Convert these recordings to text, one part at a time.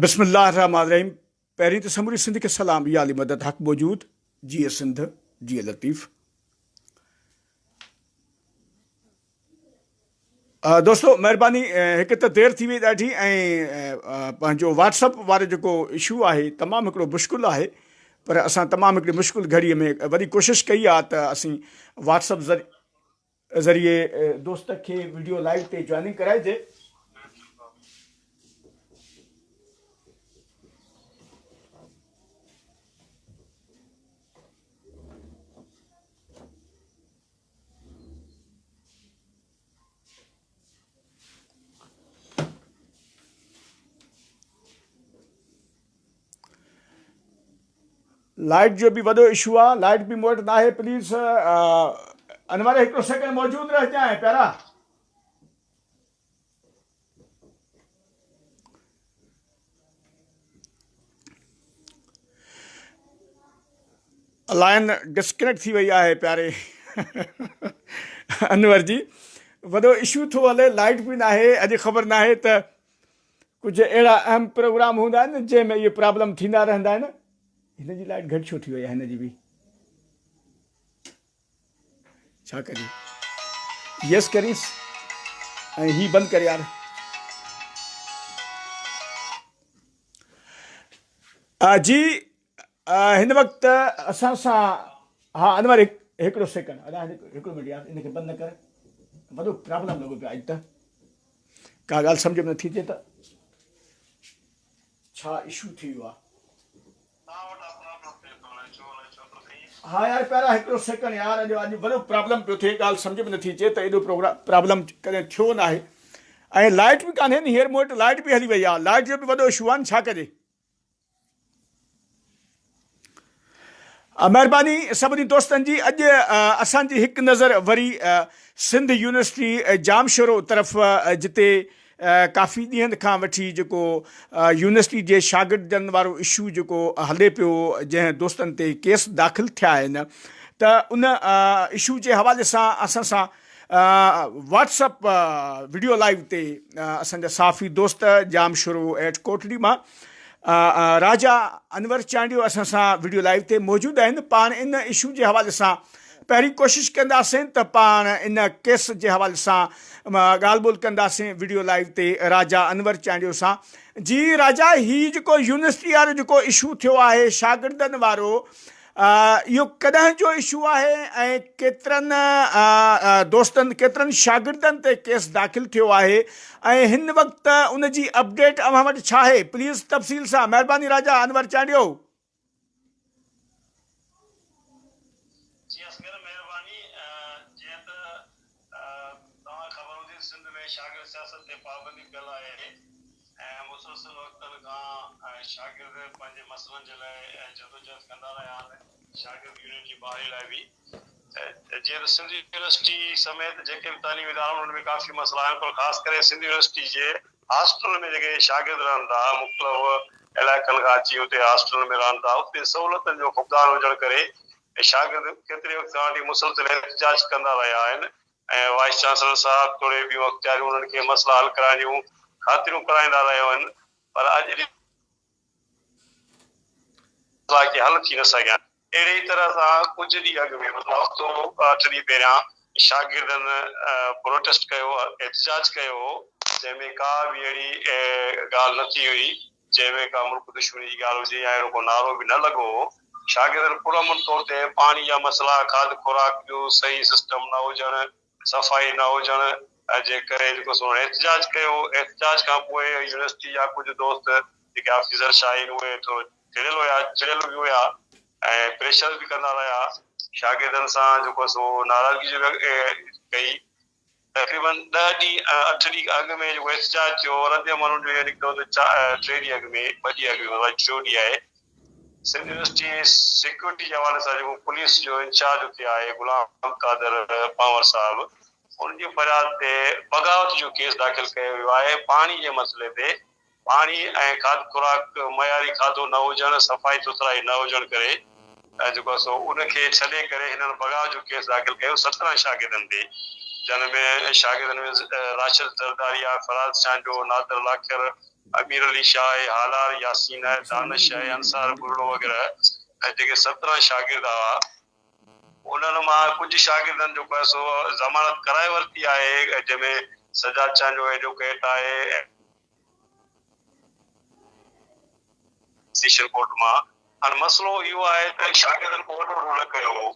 بسم الله الرحمٰن الرحيم پهرين ته سموري سنڌ کي سلام يا علي مدد حق موجود جيئي سنڌ جيئي لطيف دوستو مهرباني هڪ ته دير ٿي وئي ڏاڍي ۽ پنهنجو واٽسپ وارو جيڪو اشو آهي تمام هڪڙو مشڪل آهي پر اسان تمام هڪڙي مشڪل گهڙي ۾ وڏي ڪوشش ڪئي آهي ته اسين واٽسپ ذريعي ذريعي دوست کي ويڊيو لائيو تي جوائننگ ڪرائجي. لائٽ جو به وڏو اشو آ لائٽ به موٽ نہ آهي پليز انور هڪڙو سيڪنڊ موجود رهه جائیں پيارا لائن ڊسڪنيڪٽ ٿي وئي آهي پياري انور جي وڏو اشو ٿو هلي لائٽ به ناهي اڄ خبر ناهي ته ڪجهه اهڙا اهم پروگرام هوندا آهن جنهن ۾ اهي پرابلم ٿيندا رهندا آهن هن جي لائٽ گهٽ ڇو ٿي وئي آهي هن جي به ڇا ڪريون يس ڪريس ۽ هي بند ڪر يار جي هن وقت اسان سان ها انور هڪڙو سيڪنڊ ادا هڪڙو منٽ يار ان کي بند نه ڪر وڏو پرابلم لڳو پيو اڄ ته ڪا ڳالهه سمجھ ۾ نٿي اچي ته ڇا ايشو ٿي ويو آ ها يار پيارا هڪڙو سيڪنڊ يار اڄ اڄ وڏو پرابلم پيو ٿئي ڳالهه سمجهه ۾ نٿي اچي ته ايڏو پروگرام پرابلم ڪڏهن ٿيو نه آهي ۽ لائٽ به ڪانهي ني هير مون وٽ لائٽ به هلي وئي آ لائٽ جو به وڏو اشو آهن ڇا ڪجي مهرباني سڀني دوستن جي اڄ اسان جي هڪ نظر وري سنڌ يونيورسٽي جام شورو طرف جتي ڪافي ڏينهن کان وٺي جيڪو يونيورسٽي جي شاگردن وارو اشو جيڪو هلي پيو جنهن دوستن تي ڪيس داخل ٿيا آهن ته ان اشو جي حوالي سان اسان سان واٽس اپ وڊيو لائيو تي اسان جا صحافي دوست جام شروع ايٽ ڪوٽڙي مان راجا انور چانڊيو اسان سان وڊيو لائيو تي موجود آهن پاڻ ان اشو جي حوالي سان پهرين ڪوشش ڪنداسين ته پاڻ ان ڪيس جي حوالي سان ڳالهه ٻولهه ڪنداسين وڊيو لائيو تي راجا انور چانڊيو سان جي راجا هي جيڪو يونيورسٽي وارو جيڪو اشو ٿيو آهي شاگردن وارو اهو ڪڏهن جو اشو آهي ۽ ڪيترن دوستن ڪيترن شاگردن تي ڪيس داخل ٿيو آهي ۽ هن وقت ان جي اپڊيٽ اوهان وٽ ڇا آهي پليز تفصيل سان مهرباني راجا انور چانڊيو جي اصغر مهرباني جيئن ته توهان کي خبر هوندي ته سنڌ ۾ شاگرد سياست تي پابندي پيل آهي ۽ مسلسل وقتن کان شاگرد پنهنجي مسئلن جي لاء جدوجهد ڪندا رهيا آهن شاگرد يونين جي بحالي لاء به جيئن ته سنڌ يونيورسٽي سميت جيڪي به تعليمي ادارا آهن انهن ۾ ڪافي مسئلا آهن پر خاص ڪري سنڌ يونيورسٽي جي هاسٽل ۾ جيڪي شاگرد رهن ٿا، مختلف علائقن کان اچي اتي هاسٽل ۾ رهن ٿا، اتي سهولتن جو فقدان هجڻ ڪري شاگرد ڪيتري وقت کان وٺي مسلسل احتجاج ڪندا رهيا آهن ۽ وائيس چانسلر صاحب توڙي ٻيون اختياريون انهن کي مسئلا حل ڪرائڻ جون خاطريون ڪرائيندا رهيا آهن پر اڄ جي مسئلا ڪي حل ٿي نه سگهيا آهن. اهڙي ئي طرح سان ڪجهه ڏينهن اڳ ۾ مطلب هفتو اٺ ڏينهن پهريان شاگردن پروٽيسٽ ڪيو احتجاج ڪيو هو جنهن ۾ ڪا به اهڙي ڳالهه نه ٿي هئي جنهن ۾ ڪا ملڪ دشمني جي ڳالهه هجي يا اهڙو ڪو نعرو به نه لڳو هو شاگردن پرامن طور تي پاڻي جا مسئلا کاڌ خوراڪ جو صحيح سسٽم نه هجڻ صفائي نه هجڻ جي ڪري جيڪو سو احتجاج ڪيو، احتجاج کان پوء يونيورسٽي جا ڪجهه دوست جيڪي آفيسر شاهه آهن اهي ٿورو چڙيل هيا، چڙيل به هيا ۽ پريشر به ڪندا رهيا، شاگردن سان جيڪو سو ناراضگي به ڪئي، تقريبن ڏهه ڏينهن اٺ ڏينهن اڳ ۾ جيڪو احتجاج ٿيو رد عمل ان جو اهو نڪتو ته ٽي ڏينهن اڳ ۾ ٻه ڏينهن اڳ ۾ ٽيون ڏينهن آهي، سنڌ يونيورسٽي سيڪيورٽي جي حوالي سان جيڪو پوليس جو انچارج اتي آهي غلام قادر پنهور صاحب ان جي فرياد تي بغاوت جو ڪيس داخل ڪيو ويو آهي پاڻي جي مسئلي تي پاڻي ۽ کاڌ خوراڪ معياري کاڌو نه هجڻ صفائي سٿرائي نه هجڻ ڪري جيڪو آهي سو ان کي ڇڏي ڪري هنن بغاوت جو ڪيس داخل ڪيو سترهن شاگردن تي جن ۾ شاگردن ۾ راشد زرداريا فراز چانڊيو نادر لاکر امير علي شاهه ۽ هالار ياسين ۽ دانش ۽ انصار ٻرڙو وغيره ۽ جيڪي سترهن شاگرد هئا انهن مان ڪجهه شاگردن جيڪو آهي سو ضمانت ڪرائي ورتي آهي ۽ جنهن ۾ سجاد چانه جو ايڊوڪيٽ آهي ۽ سيشن ڪورٽ مان هاڻي مسئلو اهو آهي ته شاگردن ڪو وڏو رول نه ڪيو هو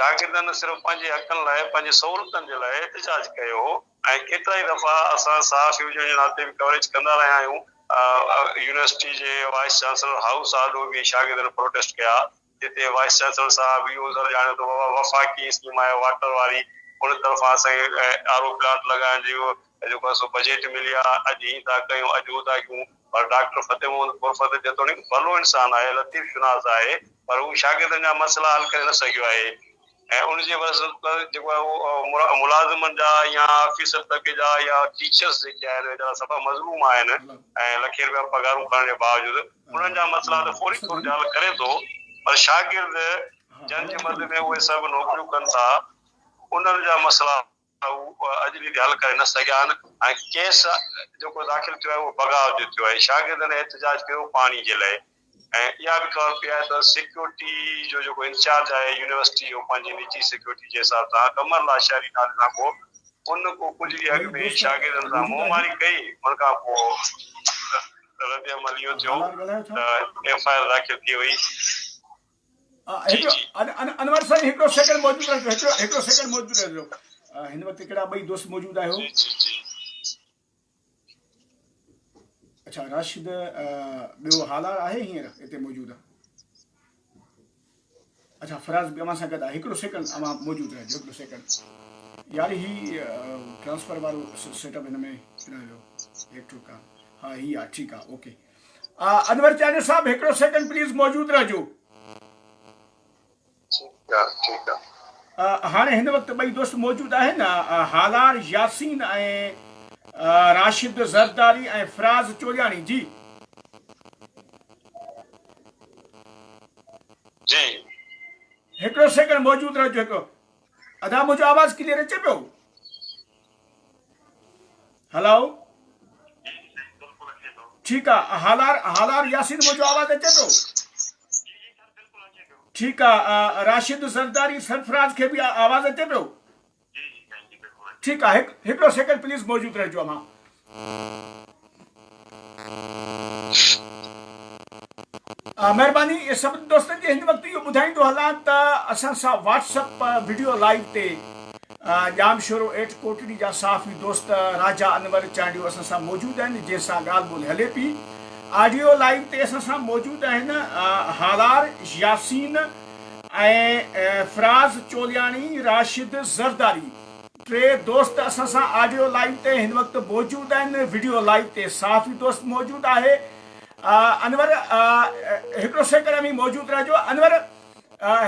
شاگردن صرف پنهنجي حقن لاء پنهنجي سهولتن جي لاء احتجاج ڪيو هو. ۽ ڪيترائي دفعا اسان صحافي هجڻ جي ناتي به ڪوريج ڪندا رهيا آهيون. يونيورسٽي جي وائيس چانسلر هائوس آڏو به شاگردن پروٽيسٽ ڪيا، جتي وائيس چانسلر صاحب اهو عذر ڄاڻيو ته بابا وفاقي اسڪيم آهي واٽر واري، ان طرفان اسان کي آر او پلانٽ لڳائڻ جو جيڪو آهي سو بجيٽ ملي آهي، اڄ هي ٿا ڪيون، اڄ هو ٿا ڪيون، پر ڊاڪٽر فتح محمد پورفتح جيتوڻيڪ ڀلو انسان آهي، لطيف شناس آهي، پر هو شاگردن جا مسئلا حل ڪري نه سگهيو آهي. ۽ ان جي عيوض جيڪو آهي اهو ملازمن جا يا آفيسر طبقي جا يا ٽيچرس جيڪي آهن ويچارا سفا مظلوم آهن ۽ لکين رپيا پگهارون کڻڻ جي باوجود انهن جا مسئلا ته فوري طور تي حل ڪري ٿو پر شاگرد جن جي مد ۾ اهي سڀ نوڪريون ڪن ٿا انهن جا مسئلا ته هو اڄ به اهي حل ڪري نه سگهيا آهن ۽ ڪيس جيڪو داخل ٿيو آهي اهو بغاء جو ٿيو آهي، شاگردن احتجاج ڪيو پاڻي جي لئي ۽ اها به خبر پئي آهي ته سيڪيورٽي جو جيڪو انچارج آهي يونيورسٽي جو پنهنجي نجي سيڪيورٽي جي حساب سان قمر لاشاري نالي سان ڪو ان ڪو ڪجهه ڏينهن اڳ ۾ شاگردن سان منهن ماري ڪئي ان کان پوء رد عمل اهو ٿيو ته ايف آء آر داخل ٿي وئي. جي جي. انور سائين هڪڙو سيڪنڊ موجود رهجو هڪڙو سيڪنڊ موجود رهجو هن وقت ڪهڙا ٻئي دوست موجود آهيو جي جي جي. اڇا راشد ٻيو هالار آهي هينئر هتي موجود اڇا فراز به اوهان سان گڏ آهي هڪڙو سيڪنڊ اوهان موجود رهجو هڪڙو سيڪنڊ يار هي ٽرانسفر وارو سيٽ اپ هن ۾ رهجو هيڪ ٺوڪا ها هي آ ٺيڪ آ اوڪي انور چانڊيو صاحب هڪڙو سيڪنڊ پليز موجود رهجو. ٺيڪ آ ٺيڪ آ. هاڻي هن وقت ٻئي دوست موجود آهن هالار ياسين ۽ راشد زرداري ۽ فراز چوڙياڻي جي. جي. هڪڙو سيڪنڊ موجود رهجو هڪڙو. ادا منهنجو آواز ڪليئر اچي پيو هلو ٺيڪ آ هالار هالار ياسين منهنجو آواز اچي پيو ٺيڪ آ راشد زرداري سرفراز کي به آواز اچي پيو ٺيڪ آ هڪ هڪڙو سيڪنڊ پليز موجود رهجو اما مهرباني سڀني دوستن جي هن وقت اهو ٻڌائيندو هلان ته اسان سان واٽس اپ وڊيو لائيو تي ڄامشورو ايٽ ڪوٽڙي جا صحافي دوست راجا انور چانڊيو اسان سان موجود آهن جنهن سان ڳالهه ٻولهه هلي پي آڊيو لائيو تي اسان سان موجود آهن هالار ياسين ۽ فراز چولياڻي راشد زرداري ٽي دوست اسان سان آڊيو لائيو تي هن وقت موجود آهن وڊيو لائيو تي صحافي دوست موجود آهي انور هڪڙو سيڪنڊ اوهين موجود رهجو انور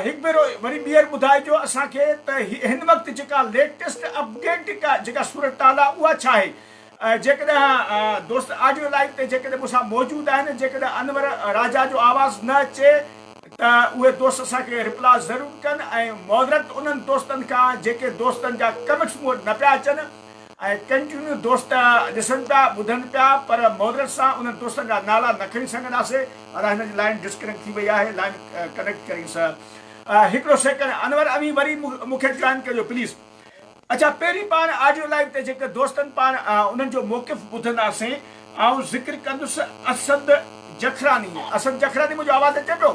هڪ ڀيرو وري ٻيهر ٻڌائجو اسان کي ته هن وقت جيڪا ليٽيسٽ اپڊيٽ جيڪا صورتحال آهي اها ڇا آهي جيڪڏهن دوست آڊيو لائيو تي جيڪڏهن مون سان موجود آهن جيڪڏهن انور راجا جو آواز نه اچي ته اهي دوست اسان کي رپلا ضرور ڪن ۽ معذرت انهن دوستن کان جيڪي دوستن جا ڪمينٽس مون وٽ نه پيا اچن ۽ ڪنٽينيو دوست ڏسن پيا ٻڌن پيا پر معذرت سان انهن دوستن جا نالا نه کڻي سگهنداسي ادا هن جي لائين ڊسڪنيڪٽ ٿي وئي آهي لائين ڪنيڪٽ ڪرينس هڪڙو سيڪنڊ انور اوهين وري مون کي جوائن ڪريو پليز اچا پهرين پاڻ آڊيو لائيو تي جيڪر دوستن پاڻ انهن جو موقف ٻڌنداسين آئون ذڪر ڪندس اسد جکراني اسد جکراني منهنجو آواز اچي پيو.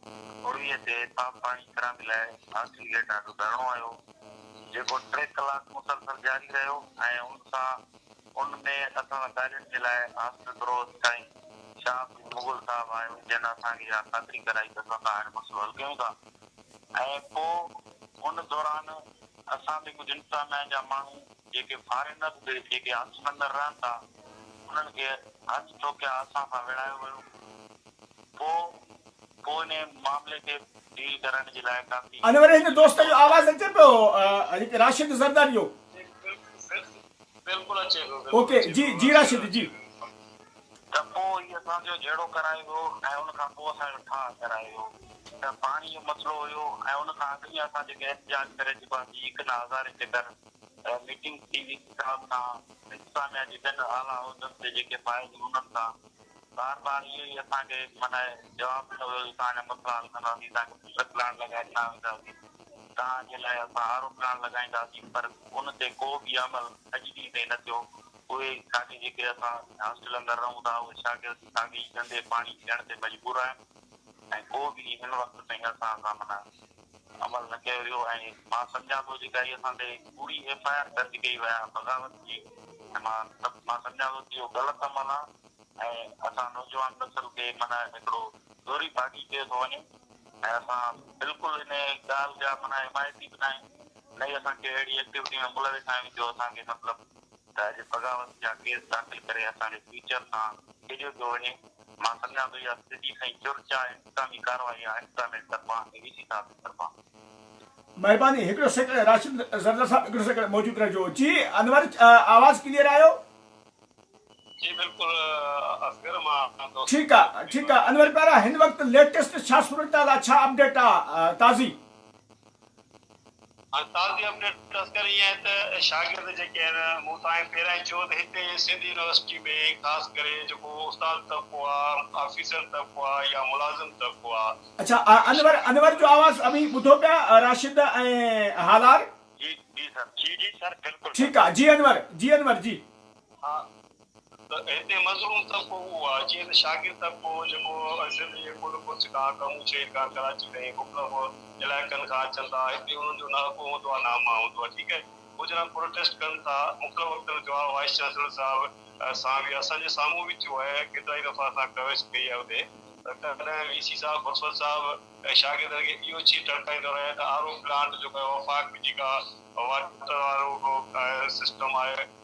پوڙهيء تي صاف پاڻي خرابي لاء آخري گيٽ آڏو ڌرڻو آيو، جيڪو ٽي ڪلاڪ مسلسل جاري رهيو ۽ ان سان ان ۾ اسان ڳالهين جي لاء هاسٽل پرووسٽ سائين شاهه پير مغل صاحب آيو، جنهن اسان کي اها خاطري ڪرائي ته اسان سان هاڻي مسئلو حل ڪيون ٿا ۽ پوء ان دوران اسان تي ڪجهه انتظاميه جا ماڻهو. جيڪي فارينر هئي، جيڪي هنس مندر رهن ٿا، انهن کي هنس ٽوڪيا اسان کان وڙهايو ويو. پوء پوء انهي معاملي کي ڊيل ڪرڻ جي لاء ڪافي. ان وري هڪ دوست جو آواز اچي پيو هڪ راشد زرداري جو. بلڪل اچي پيو. اوڪي جي جي راشد جي. ته پوء هي اسان جو جهيڙو ڪرايو ويو ۽ ان کان پوء اسان جو ٺاهه ڪرايو ويو ته پاڻي جو مسئلو هيو ۽ ان کان اڳ ۾ اسان جيڪي احتجاج ڪري چڪاسين هڪ نه هزارين چڪر. ميٽنگ ٿي وئي ڪتاب کان انتظاميا جي ٻين اعليٰ عهدن تي جيڪي فائز هئي انهن کان بار بار اهو ئي اسان کي معنيٰ جواب ڏنو ويو جو توهان جا مسئلا حل ڪنداسين توهان کي بهتر پلاٽ لڳائي ڏنا وينداسين توهان جي لاء اسان آر او پلاٽ لڳائينداسين پر ان تي ڪو به عمل اڄ ڏينهن تائين نه ٿيو اهي ساڳي جيڪي اسان هاسٽل اندر رهون ٿا اهي شاگرد ساڳي ئي گندي پاڻي پيئڻ تي مجبور آهن ۽ ڪو به هن وقت تائين اسان سان معنيٰ عمل نه ڪيو ويو ۽ مان سمجهان ٿو جيڪا هي اسان تي ڪوڙي ايف آء آر درج ڪئي وئي آهي بغاوت جي ۽ مان مان سمجهان ٿو ته اهو غلط عمل آهي ۽ اسان نوجوان نسل کي معنيٰ هڪڙو زوري باغي ڪيو ٿو وڃي ۽ اسان بلڪل انهي ڳالهه جا معنيٰ حمايتي به ناهيون نه ئي اسان کي اهڙي ايڪٽيوٽي ۾ ملوث آهيون جو اسان کي مطلب ته اڄ بغاوت جا ڪيس داخل ڪري اسان جي فيوچر سان کيڏيو پيو وڃي، مان سمجهان ٿو اها سڌي سنئين چرچا ۽ انتظامي ڪارروائي آهي انتظاميا جي طرفان ۽ وي سي صاحب جي طرفان. مھرباني ھڪڙو سيڪنڊ راشد زردار صاحب ھڪڙو سيڪنڊ موجود رھجو جي انور آواز ڪليئر آيو. جي بلڪل اصغر مان دوست. ٺيڪ آ ٺيڪ آ انور پيارا ھن وقت ليٽيسٽ ڇا صورتحال آ ڇا اپڊيٽ آ تازي. هاڻي تازي اپڊيٽ اصغر اها آهي ته شاگرد جيڪي آهن مون توهان کي پهريان چيو ته هتي سنڌ يونيورسٽي ۾ خاص ڪري جيڪو استاد طبقو آ، آفيسر طبقو آ يا ملازم طبقو آ. اڇا انور انور جو آواز اوهين ٻڌو پيا راشد ۽ هالار. جي جي سر جي جي سر بلڪل سر. ٺيڪ آ جي انور جي انور جي. ها. ته هتي مظلوم طبقو اهو آهي جيئن ته شاگرد طبقو هو جيڪو سنڌ جي ڪنڊ ڪڙڇ کان ڪمون شهر کان ڪراچي تائين مختلف علائقن کان اچن ٿا هتي انهن جو نه اڳو هوندو آهي نه امان هوندو آهي ٺيڪ آهي هو جڏهن پروٽيسٽ ڪن ٿا مختلف وقتن جو آء وائيس چانسلر صاحب سان به اسان جي سامهون به ٿيو آهي ڪيترائي دفعا اسان ڪوريج ڪئي آهي اتي ته تڏهن وي سي صاحب بخشور صاحب ۽ شاگردن کي اهو چي ٽڙڪائيندو رهي ته آر او پلانٽ جيڪو آهي وفاق جيڪا واٽر وارو سسٽم آهي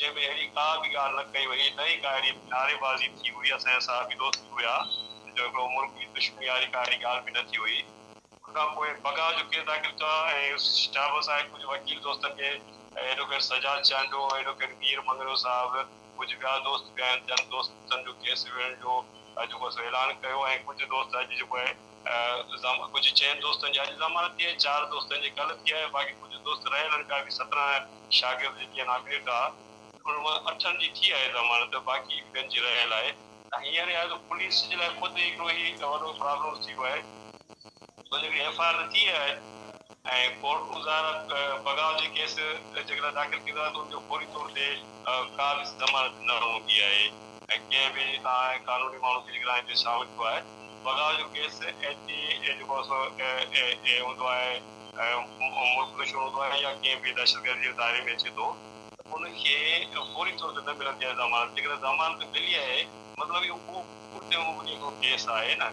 جنهن ۾ اهڙي ڪا به ڳالهه نه ڪئي وئي، نه ئي ڪا اهڙي نعري بازي ٿي هئي، اسان جا صحافي دوست به هيا، جو هڪڙو ملڪ جي دشمني واري ڪا اهڙي ڳالهه به نه ٿي هئي. ان کان پوء بگا جو ڪيس داخل ٿيو آهي ۽ شهاب صاحب ڪجهه وڪيل دوستن کي ايڊووڪيٽ سجاد چانڊيو، ايڊووڪيٽ مير مڱريو صاحب، ڪجهه ٻيا دوست به آهن، جن دوستن جو ڪيس وڙهڻ جو جيڪو سو اعلان ڪيو ۽ ڪجهه دوست اڄ جيڪو آهي. ڪجهه چئن دوستن جي اڄ ضمانت ٿي آهي، چار دوستن جي ڪلهه ٿي آهي، باقي ڪجهه دوست رهيل آهن، ٻيا به سترهن شاگرد جيڪي آهن اڳريٽ آ، انهن مان اٺن جي ٿي آهي ضمانت، باقي ٻين جي رهيل آهي ۽ هينئر اهي آهي پوليس جي لاء خود هڪڙو هي وڏو پرابلم ٿي ويو آهي ڇو جو ايف آء آر ته ٿي آهي ۽ ڪورٽ مظاهر بغاوت جي ڪيس جيڪڏهن داخل ٿيندو آهي ته ان جو فوري طور تي ڪا به ضمانت نه هوندي آهي ۽ ڪنهن به آئين ۽ قانوني ماڻهو کي جيڪڏهن آئين تي شامل ٿيو آهي بغاوت جو ڪيس ايڇ ٽي اي جيڪو اي هوندو آهي ۽ ملڪ دشمن هوندو آهي يا ڪنهن به دهشتگردي جي دائري ۾ اچي ٿو ته ان کي فوري طور تي نه ملندي آهي ضمانت جيڪڏهن ضمانت ملي آهي مطلب اهو ڪورٽ جي اڳيان ڪو ڪيس آهي نه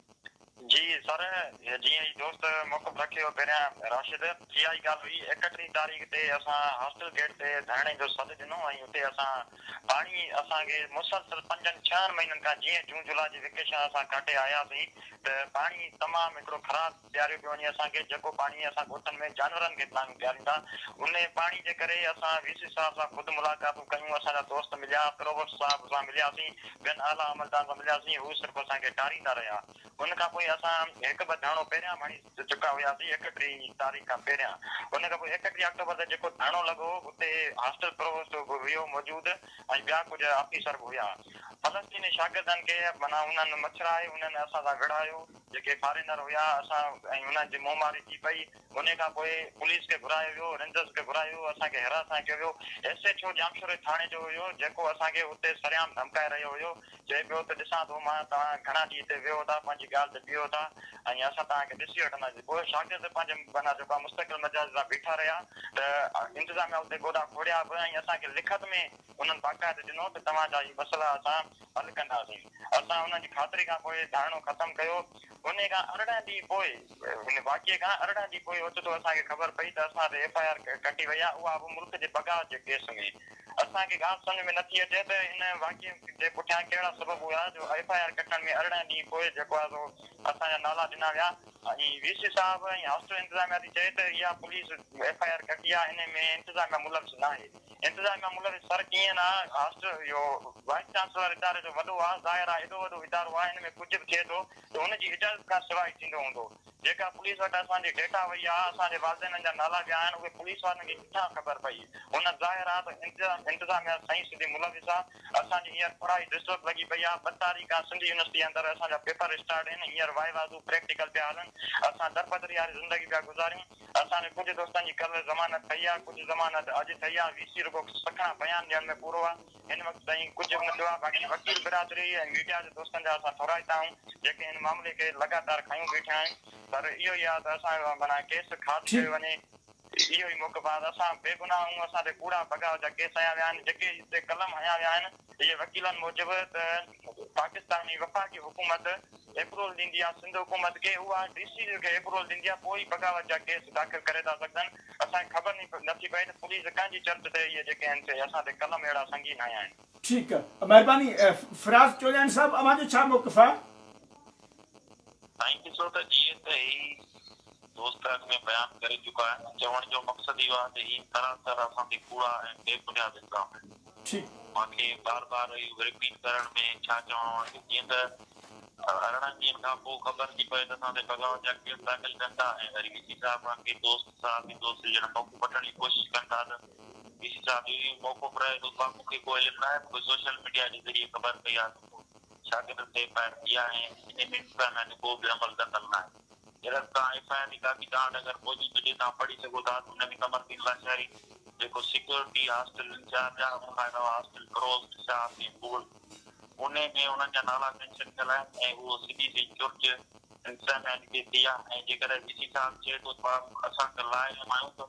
جي سر، جيئن ئي دوست موقف رکيو پهريان راشد، اها ئي ڳالهه هئي، ايڪٽيهين تاريخ تي اسان هاسٽل گيٽ تي ڌرڻي جو سڏ ڏنو ۽ اتي اسان پاڻي اسان کي مسلسل پنجن ڇهن مهينن کان جيئن جون جولاء جي ويڪيشن اسان ڪاٽي آياسين ته پاڻي تمام هڪڙو خراب پياريو پيو وڃي اسان کي جيڪو پاڻي اسان ڳوٺن ۾ جانورن کي به ناهيون پياريندا انهي پاڻي جي ڪري اسان وي سي صاحب سان خود ملاقاتون ڪيون اسان جا دوست مليا پرووسٽ صاحب سان ملياسين ٻين اعليٰ عملدارن سان ملياسين، هو صرف اسان کي ٽاريندا رهيا. ان کان پوء اسان هڪ ٻه ڌرڻو پهريان به هڻي چڪا هياسين، ايڪٽيهين تاريخ کان پهريان. ان کان پوء ايڪٽيهين آڪٽوبر تي جيڪو ڌرڻو لڳو هو، اتي هاسٽل پرووسٽ به هيو موجود ۽ ٻيا ڪجهه آفيسر به هيا. فلسطيني شاگردن کي معنيٰ انهن مڇرائي، انهن اسان سان وڙهايو. جيڪي فارينر هيا، اسان ۽ انهن جي منهن ماري ٿي پئي. انهيء کان پوء پوليس کي گهرايو ويو، رينجرز کي گهرايو ويو، اسان کي هراسان ڪيو ويو. ايس ايڇ او ڄامشوري ٿاڻي جو هيو، جيڪو اسان کي اتي سرعام ڌمڪائي رهيو هيو، چئي پيو ته ڏسان ٿو مان توهان گهڻا ڏينهن هتي ويهو ٿا، پنهنجي ڳالهه تي بيهو ٿا ۽ اسان توهان کي ڏسي وٺنداسين. پوء شاگرد پنهنجي معنيٰ جيڪو آهي مستقل مزاج سان بيٺا رهيا ته انتظاميا اتي گوڏا کوڙيا به ۽ اسان کي لکت ۾ انهن باقاعده ڏنو ته توهان جا هي مسئلا اسان حل ڪنداسين. اسان انهن جي خاطري کان پوء ڌرڻو ختم ڪيو. انهيء کان ارڙهن ڏينهن پوء، ان واقعي کان ارڙهن ڏينهن پوء اوچتو اسان کي خبر پئي ته اسان تي ايف آء آر ڪٽي وئي آهي، اها به ملڪ جي بغاوت جي ڪيس ۾. اسان کي ڳالهه سمجهه ۾ نٿي اچي ته ان واقعي جي پٺيان ڪهڙا سبب هيا جو ايف آء آر ڪٽڻ ۾ ارڙهن ڏينهن پوء جيڪو آهي سو اسان جا نالا ڏنا ويا ۽ وي سي صاحب ۽ هاسٽل انتظاميا ٿي چئي ته اها پوليس ايف آء آر ڪٽي آهي، انهيء ۾ انتظاميا ملوث ناهي. انتظار مان ملوث سر ڪيئن نه هاسٽل اهو وائيس چانسلر اداري جو وڏو آ ظاهر آ ايڏو وڏو ادارو آ ان ۾ ڪجهه به ٿئي ٿو ته هن جي اجازت کان سواء ئي ٿيندو هوندو جيڪا پوليس وٽ اسان جي ڊيٽا وئي آ اسان جي والدينن جا نالا ويا آهن اهي پوليس وارن کي ڪٿان خبر پئي هن ظاهر آ ته انتظام انتظاميا سائين سڌي ملوث آ اسان جي هينئر پڙهائي ڊسٽرب لڳي پئي آ ٻه تاريخ کان سنڌ يونيورسٽي اندر اسان جا پيپر اسٽارٽ هين هينئر وائي وازو پريڪٽيڪل پيا هلن اسان دربدري واري زندگي پيا گذاريون اسان جي ڪجهه دوستن جي ڪلهه ضمانت ٺهي آ، ڪجهه ضمانت اڄ ٺهي آ، وي سي رڳو سکڻا بيان ڏيڻ ۾ پورو آ، هن وقت تائين ڪجهه به نه ٿيو آ، باقي وڪيل برادري ۽ ميڊيا جي دوستن جا اسان ٿورائتا آهيون، جيڪي هن معاملي کي لڳاتار کنيون بيٺا آهن، پر اهو ئي آ ته اسان جو معنيٰ ڪيس خارج ڪيو وڃي، اهو ئي موقف آ ته اسان بيگناهه آهيون، اسان تي ڪوڙا بغاوت جا ڪيس هنيا ويا آهن، جيڪي هتي قلم هنيا ويا آهن، اهي وڪيلن موجب ته. پاڪستاني وفاقي حڪومت ايپرول ڏيندي يا سنڌ حڪومت کي اها ڊي سي جي کي ايپرول ڏيندي يا پوء ئي بغاوت جا ڪيس داخل ڪري ٿا سگهجن اسان کي خبر نٿي پئي ته پوليس ڪنهن جي چرچ تي اهي جيڪي آهن سي اسان تي قلم اهڙا سنگين هنيا آهن. ٺيڪ مهرباني فراز چولاڻي صاحب اوهان جو ڇا موقف آهي؟ سائين ڏسو ته جيئن ته هي دوست اڳ ۾ بيان ڪري چڪا آهن چوڻ جو مقصد اهو آهي ته هي سراسر اسان تي ڪوڙا ۽ بي بنياد الزام آهن. ٺيڪ. مان کي بار بار اهو رپيٽ ڪرڻ ۾ ڇا چوڻو آهي ته جيئن ته ارڙهن ڏينهن کان پوء خبر ٿي پوي ته اسان تي بغاوت جا ڪيس داخل ڪن ٿا ۽ وري وي سي صاحب کان ڪي دوست صحافي دوست ڄڻ موقعو وٺڻ جي ڪوشش ڪن ٿا ته وي سي صاحب اهو ئي موقعو پرائي ٿو ڀا مون کي ڪو علم ناهي مون کي سوشل ميڊيا جي ذريعي خبر پئي آهي ته ڪو شاگردن تي ايف آء آر ٿي آهي ۽ انهي ۾ امڪان آهي ته ڪو به عمل دخل ناهي. جڏهن به توهان ايف آء آر جي ڪاپي توهان وٽ اگر موجود هجي توهان پڙهي سگهو ٿا ته ان ۾ قمر الدين لاشاري جيڪو سيڪيورٽي هاسٽل انچارج آهي ان کان علاوه هاسٽل فروز، شاهه سين مغل انهي ۾ انهن جا نالا مينشن ٿيل آهن ۽ اهو سڌي سئي چرچ انتظاميا جي ڏي ٿي آهي ۽ جيڪڏهن وي سي صاحب چئي ٿو ته اسان ته لا علم آهيون ته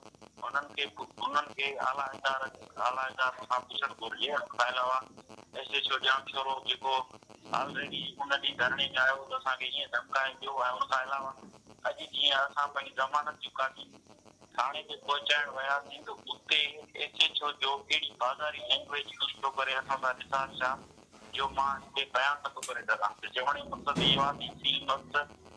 انهن کي انهن کي اعليٰ ادارن اعليٰ ادارن کان پڇڻ گهرجي ان کان علاوه ايس ايڇ او ڄامشورو جيڪو آلريڊي ان ڏينهن ڌرڻي تي آيو هو ته اسان کي ائين ڌمڪايو ويو ۽ ان کان علاوه اڄ جيئن اسان پنهنجي ضمانت جي ڪاپي ٿاڻي تي پهچائڻ وياسين ته اتي ايس ايڇ او جو اهڙي بازاري لينگويج يوز ٿيو ڪري اسان سان نثار شاهه جو مان هتي بيان نٿو ڪري سگهان ته چوڻ جو مقصد اهو آهي ته فلم وقت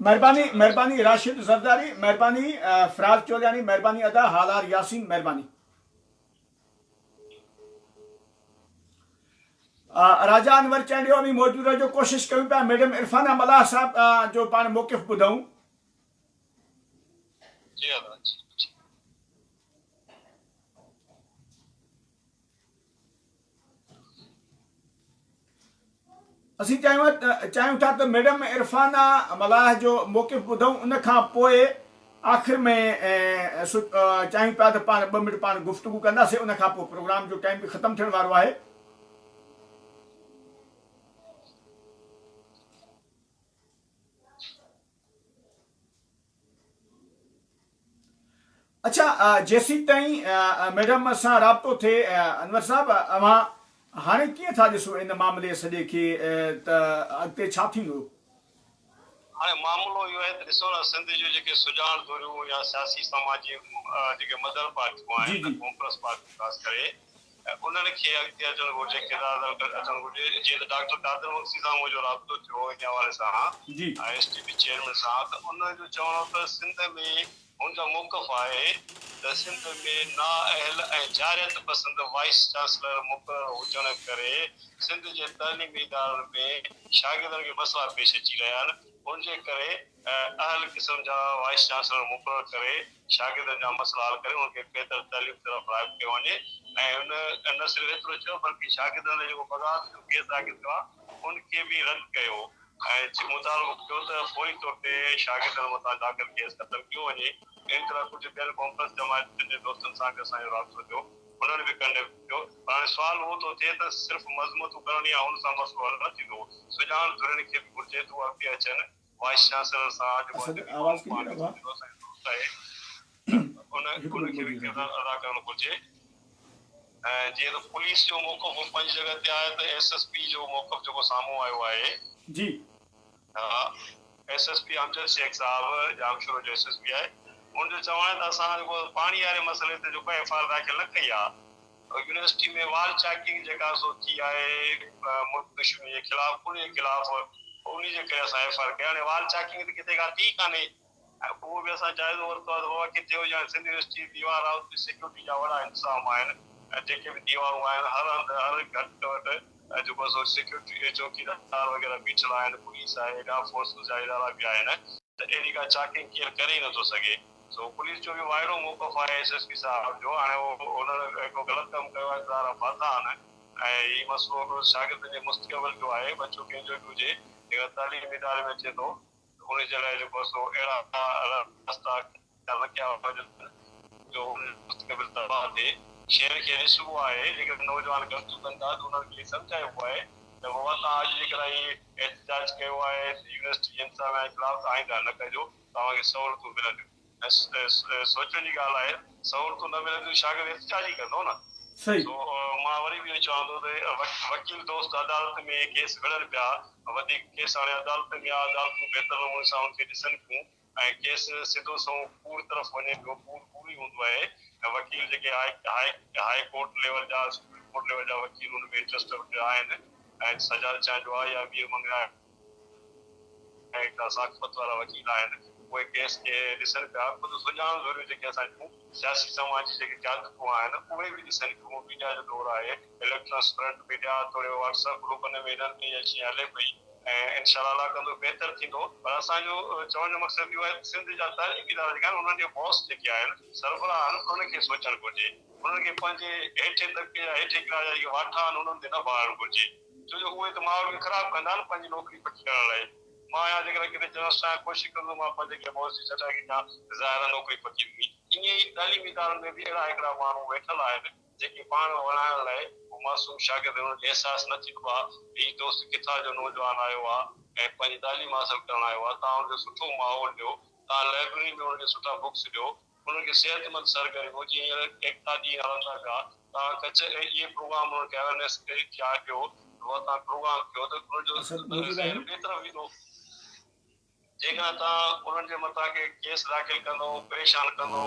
مھرباني مھرباني راشد زرداري مھرباني فراز چولياڻي مھرباني ادا ھالار ياسين مھرباني راجا انور چانڊيو اوهين موجود رهجو ڪوشش ڪيون پيا ميڊم عرفانه ملاح صاحب جو پاڻ موقف ٻڌون جي جي اسين چاهيون ٿا ته ميڊم عرفانا ملاح جو موقف ٻڌون ان کان پوء آخر ۾ چاهيون پيا ته پاڻ ٻه منٽ پاڻ گفتگو ڪنداسين ان کان پوء پروگرام جو ٽائيم به ختم ٿيڻ وارو آهي اڇا جيسيتائين ميڊم سان رابطو ٿئي انور صاحب اوهان هاڻي ڪيئن ٿا ڏسو ان معاملي سڄي کي ته اڳتي ڇا ٿيندو؟ هاڻي معاملو اهو آهي ته ڏسو نه سنڌ جون جيڪي سجاڻ ڌريون يا سياسي سماجي جيڪي مدر پارٽيون آهن ڪانگريس پارٽي خاص ڪري انهن کي اڳتي اچڻ گهرجي، ڪردار ادا اچڻ گهرجي، جيئن ته ڊاڪٽر قادر مگسي سان منهنجو رابطو ٿيو ان حوالي سان ۽ ايس ٽي پي چيئرمين سان ته ان جو چوڻ هو ته سنڌ ۾ هن جا موقف آهي ته سنڌ ۾ نااهل ۽ جارحيت پسند وائيس چانسلر مقرر هجڻ ڪري سنڌ جي تعليمي ادارن ۾ شاگردن کي مسئلا پيش اچي رهيا آهن ان جي ڪري اهل قسم جا وائيس چانسلر مقرر ڪري شاگردن جا مسئلا حل ڪري انهن کي بهتر تعليم طرف راغب ڪيو وڃي ۽ نه صرف ايترو چيو بلڪه شاگردن لاء جيڪو بغاوت جو ڪيس داخل ٿيو آهي ان کي به رد ڪيو ۽ مطالبو ڪيو ته فوري طور تي شاگردن مٿان داخل ڪيس ختم ڪيو وڃي اهڙي طرح ڪجهه ٻين ڪانفرنس جماعتن جي دوستن سان به اسان جو رابطو ٿيو انهن به ڪنڊيم ڪيو پر هاڻي سوال اهو ٿو ٿئي ته صرف مذمتون ڪرڻ يا ان سان مسئلو حل نه ٿيندو سڄاڻ ڌرين کي به گهرجي ته اهي اڳتي اچن وائيس چانسلر سان اڄ مون جي قوم پاڻ کي سمجهندو اسان جو دوست آهي ته ان ان کي به ڪردار ادا ڪرڻ گهرجي ۽ جيئن ته پوليس جو موقف پنهنجي جڳهه تي آهي ته ايس ايس پي جو موقف جيڪو سامهون آيو آهي جي ها S S P Amjad Shaikh صاحب ڄامشورو جو ايس ايس پي آهي ان جو چوڻ آهي ته اسان جيڪو پاڻي واري مسئلي تي جيڪو ايف آر داخل نه ڪئي آهي يونيورسٽي ۾ وال چاڪنگ جيڪا سو ٿي آهي ملڪ دشمني جي خلاف انهي جي خلاف انهي جي ڪري اسان ايف آء آر ڪئي هاڻي وال چاڪنگ ته ڪٿي ڪا ٿي ڪانهي اهو به اسان جائزو ورتو آهي ته بابا ڪٿي هجي هاڻي سنڌ يونيورسٽي ديوار آهي اتي سيڪيورٽي جا وڏا انتظام آهن ۽ جيڪي به ديوارون آهن هر هنڌ هر گهٽ وٽ جيڪو سو سيڪيورٽي جي چوڪيدار وغيره بيٺل آهن پوليس آهي ٻيا فورسز جا ادارا به آهن ته اهڙي ڪا چاڪنگ ڪير ڪري ئي نٿو سگهي. سو پوليس جو به وائڙو موقف آهي ايس ايس پي صاحب جو هاڻي هن هڪڙو غلط ڪم ڪيو آهي ته ڌارا ڦاٿا آهن ۽ هي مسئلو هڪڙو شاگردن جي مستقبل جو آهي ٻچو ڪنهن جو به هجي جيڪڏهن تعليم اداري ۾ اچي ٿو ته ان جي لاء جيڪو سو اهڙا رستا اختيار نه ڪيا وڃن جو ان جو مستقبل تباهه ٿئي شين کي ڏسبو آهي جيڪڏهن نوجوان غلطيون ڪن ٿا ته انهن کي سمجهائبو آهي ته بابا توهان اڄ جيڪڏهن هي احتجاج ڪيو آهي ته يونيورسٽي جي انتظاميا جي خلاف ته آئنده نه ڪجو توهان کي سهولتون ملنديون ۽ سوچڻ جي ڳالهه آهي سهولتون نه ملنديون شاگرد احتجاج ئي ڪندو نه سو مان وري به اهو چوان ٿو ته وڪيل دوست عدالت ۾ ڪيس وڙهن پيا وڌيڪ ڪيس هاڻي عدالتن ۾ آهي عدالتون بهتر نموني سان ان کي ڏسن ٿيون ۽ ڪيس سڌو سنئون ڪوڙ طرف وڃي پيو ڪوڙ ڪوڙ ئي هوندو آهي ۽ وڪيل جيڪي هاء ڪورٽ ليول جا سپريم ڪورٽ ليول جا وڪيل ان ۾ انٽرسٽ آهن ۽ سجاد چانڊيو آهي يا مير منگڻا آهي اهي هڪڙا ثاقفت وارا وڪيل آهن. اهي ڪيس کي ڏسن پيا. خود سڄاڻ ڌريون جيڪي اسان جون سياسي سماجي جيڪي قيادتون آهن اهي به ڏسن ٿيون. ميڊيا جو دور آهي. اليڪٽرانس پرنٽ ميڊيا توڙي واٽس اپ گروپن ۾ انهن ۾ اها شيء هلي پئي ۽ انشاء الله الله ڪندو بهتر ٿيندو. پر اسان جو چوڻ جو مقصد اهو آهي ته سنڌ جا تعليمي ادارا جيڪا آهن انهن جا باس جيڪي آهن سربراهه آهن انهن کي سوچڻ گهرجي. انهن کي پنهنجي هيٺين طبقي جا هيٺين ڪلاس جا جيڪي واٺا آهن انهن تي نه ڀاڙڻ گهرجي. ڇو جو اهي ته ماحول کي خراب ڪندا نه پنهنجي نوڪري پڪي ڪرڻ لاء. مان آهيان جيڪڏهن ڪٿي جنس سان ڪوشش ڪندس مان پنهنجي ڪنهن مؤسسي جي چٽائي کي ڏيان ته ظاهرا نوڪري پڪي ويندي. ائين ئي تعليمي ادارن ۾ به اهڙا هڪڙا ماڻهو ويٺل آهن جيڪي پاڻ وڻائڻ لاء اهو معصوم شاگرد هن کي احساس نه ٿيندو آ ته هي دوست ڪٿان جو نوجوان آيو آ ۽ پنهنجي تعليم حاصل ڪرڻ آيو آ تان هن کي سٺو ماحول ڏيو تان لائبرري ۾ هن کي سٺا بڪس ڏيو انهن کي صحتمند سرگرميون جيئن هينئر ايڪتا ڏينهن هلن ٿا پيا تان ڪڇ ۽ اهي پروگرام انهن کي اويرنيس ڪري ٿيا ڪيو هئا تان پروگرام ڪيو ته انهن جو ذهن ٻي طرف ويندو جيڪڏهن تان انهن جي مٿان ڪي ڪيس داخل ڪندو پريشان ڪندو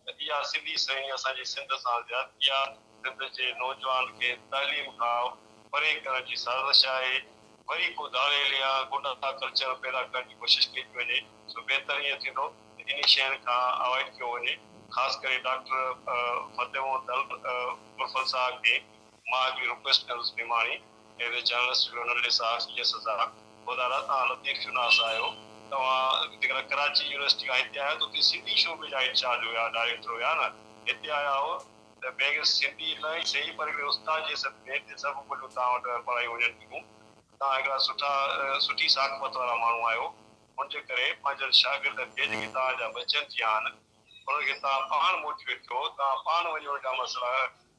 ته اها سڌي سئي اسان جي سنڌ سان زيادتي آ سنڌ جي نوجوان کي تعليم کان پري ڪرڻ جي سازش آهي وري ڪو ڌاڙيل يا غنڊا ڪلچر پيدا ڪرڻ جي ڪوشش ڪئي ٿي وڃي سو بهتر ائين ٿيندو ته انهي شين کان اوائڊ ڪيو وڃي خاص ڪري ڊاڪٽر فتح محمد البرفل صاحب کي مان اڳ به رڪويسٽ ڪندس نماڻي ايز اي جرنلسٽ جرنل صحافي جي سزا گذارا توهان لطيف شناس آهيو توهان جيڪڏهن ڪراچي يونيورسٽي کان هتي آهيو ته اتي سنڌي شعبي جا انچارج هيا ڊائريڪٽر هيا نه هتي آيا هئو ته بيگس سنڌي نه ئي سهي پر هڪڙي استاد جي حيثيت ۾ هتي سڀ ٻوليون توهان وٽ پڙهايون وڃن ٿيون توهان هڪڙا سٺا سٺي ثاقفت وارا ماڻهو آهيو ان جي ڪري پنهنجن شاگردن کي جيڪي توهان جا بچن ٿيا آهن، انهن کي توهان پاڻ موٽيويٽ ڪيو، توهان پاڻ وڃو اهڙا مسئلا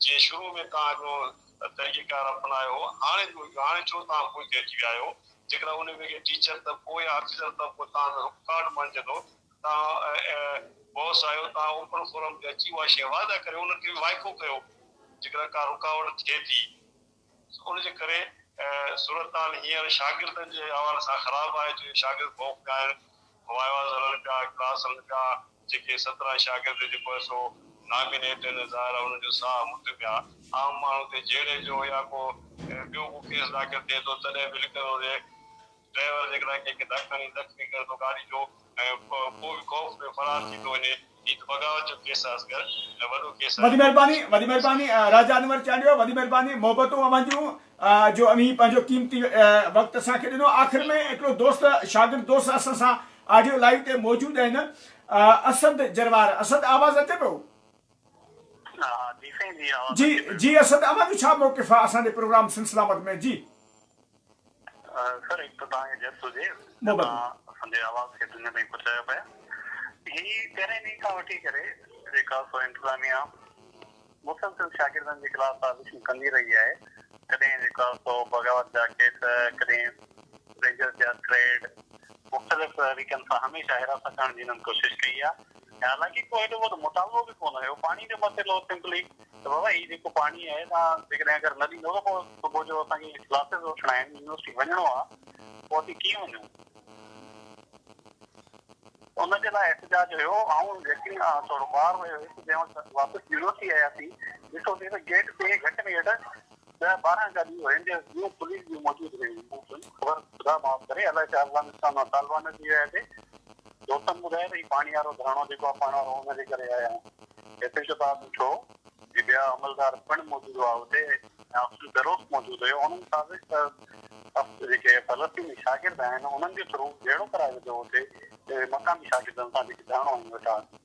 جيئن شروع ۾ توهان جو طريقه ڪار اپنايو هو، هاڻي جو هجو، هاڻي ڇو توهان پوئتي اچي ويا آهيو، جيڪڏهن ان ويلي ٽيچر طبقو يا آفيسر طبقو توهان ۾ رڪاوٽ بڻجندو ته توهان باس آهيو، توهان اوپن فورم تي اچي اها شيء واضح ڪريو، انهن کي به وائکو ڪيو، جيڪڏهن ڪا رڪاوٽ ٿئي ٿي. ان جي ڪري صورتحال هينئر شاگردن جي حوالي سان خراب آهي جو شاگرد خوف ۾ آهن، وائواز هلن پيا، ڪلاس هلن پيا، جيڪي سترهن شاگرد جيڪو آهي سو نامينيٽ آهن ظاهر آهي انهن جو ساهه مٺ ۾ آهي، عام ماڻهو تي جهيڙي جو يا ڪو ٻيو ڪو ڪيس داخل ٿئي ٿو تڏهن به لکندو ته. ڊرائيور جيڪڏهن ڪنهن کي ڌڪ هڻي زخمي ڪري ٿو گاڏي جو ۽ پوء به خوف ۾ فرار ٿي ٿو وڃي، هي ته بغاوت جو ڪيس آهي اصغر ۽ وڏو ڪيس آهي. وڏي مهرباني وڏي مهرباني راجا انور چانڊيو وڏي مهرباني محبتون اوهان جون جو اوهين پنهنجو قيمتي وقت اسان کي ڏنو آخر ۾ هڪڙو دوست شاگرد دوست اسان سان آڊيو لائيو تي موجود آهن اسد جروار اسد آواز اچي پيو ها ها جي سائين جي آواز جي اچي پيو جي اسد اوهان جو ڇا موقف آهي اسان جي پروگرام سلسلامت ۾ جي. سر هڪ ته توهان کي جس هجي جو توهان اسانجي آواز کي دنيا تائين پهچايو پيا هي پهرين ڏينهن کان وٺي ڪري جيڪا سو انتظاميا مسلسل شاگردن جي خلاف سازشون ڪندي رهي آهي ڪڏهن جيڪا سو بغاوت جا ڪيس ڪڏهن رينجرز جا ٿريڊ مختلف طريقن سان هميشه حراست ڪرڻ جي هنن ڪوشش ڪئي آهي ۽ حالانڪه ڪو هيڏو وڏو مطالبو به ڪونه هيو پاڻي جو مسئلو سمپلي ته بابا هي جيڪو پاڻي آهي توهان جيڪڏهن اگر نه ڏيندو ته پوء صبح جو اسان کي ڪلاسز وٺڻا آهن يونيورسٽي وڃڻو آهي پوء اسين ڪيئن وڃون؟ ان جي لاء احتجاج هيو آئون يقين ٿورو ٻاهر ويو هيس جنهن وقت واپس يونيورسٽي آياسين ڏٺوسين ته گيٽ تي گهٽ ۾ گهٽ ڏهه ٻارهن ڳالهيون هن جي نيو پوليس ۾ موجود هيون. مون چيم خبر خدا معاف ڪري الائي ڇا افغانستان مان طالبان اچي ويا هتي. دوستن ٻڌايو ته هي پاڻي وارو ڌرڻو جيڪو آهي پاڻ وارو ان جي ڪري آيا آهيون. هتي شتاب مٺو ۽ ٻيا عملدار پڻ موجود هئا هتي آفيسر بيروس موجود هيو هن مطابق ته جيڪي فلسطيني شاگرد آهن انهن جي ٿرو جهيڙو ڪرايو ويندو هتي مقامي شاگردن سان جيڪي ڌرڻو هنن ويٺا آهن.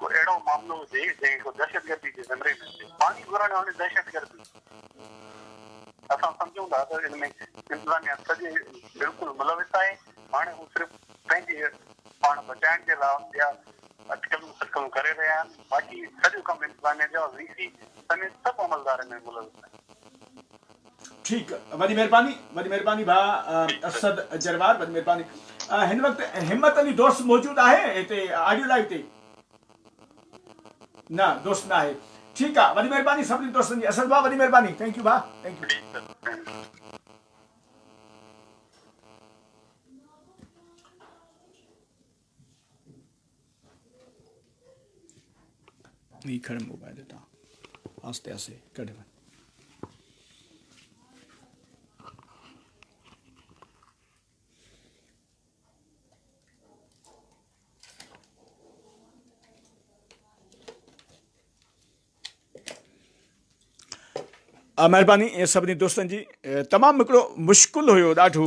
ڪو اهڙو معاملو هجي جنهن ڪو دهشتگردي جي زمري ۾ اچي پاڻي گهرڻ هاڻي دهشتگردي اسان سمجهون ٿا ته ان ۾ انتظاميا سڄي بلڪل ملوث آهي هاڻي هو صرف پنهنجي پاڻ بچائڻ جي لاء اهڙيا اٽڪلون سٽڪلون ڪري رهيا آهن باقي سڄو ڪم انتظاميا جو وي سي سميت سڀ عملدار ان ۾ ملوث آهن. ٺيڪ وڏي مھرباني وڏي مھرباني ڀاء اسد جروار وڏي مھرباني ھن وقت ھمت علي دوست موجود آھي ھتي آڊيو لائيو تي نه دوست ناهي ٺيڪ آ وڏي مهرباني سڀني دوستن جي اسد ڀاء وڏي مهرباني ٿينڪ يو ڀاء ٿينڪ يو هي کڻ موبائل هتان آهستي آهستي ڪڍ وڃ مهرباني سڀني دوستن جي تمام هڪڙو مشڪل هيو ڏاڍو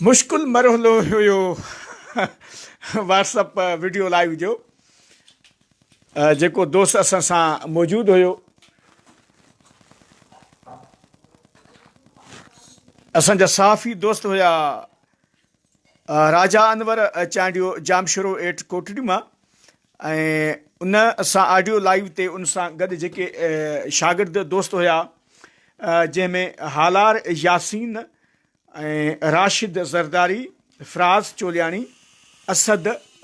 مشڪل مرحلو هيو واٽس اپ ويڊيو لائيو جو جيڪو دوست اسان سان موجود هيو اسان جا صحافي دوست هيا راجا انور چانڊيو ڄامشورو ايٽ ڪوٽڙي مان ۽ ان سان آڊيو لائيو تي ان سان گڏ جيڪي شاگرد دوست هيا جنهن ۾ هالار ياسين ۽ راشد زرداري فراز چولياڻي اسد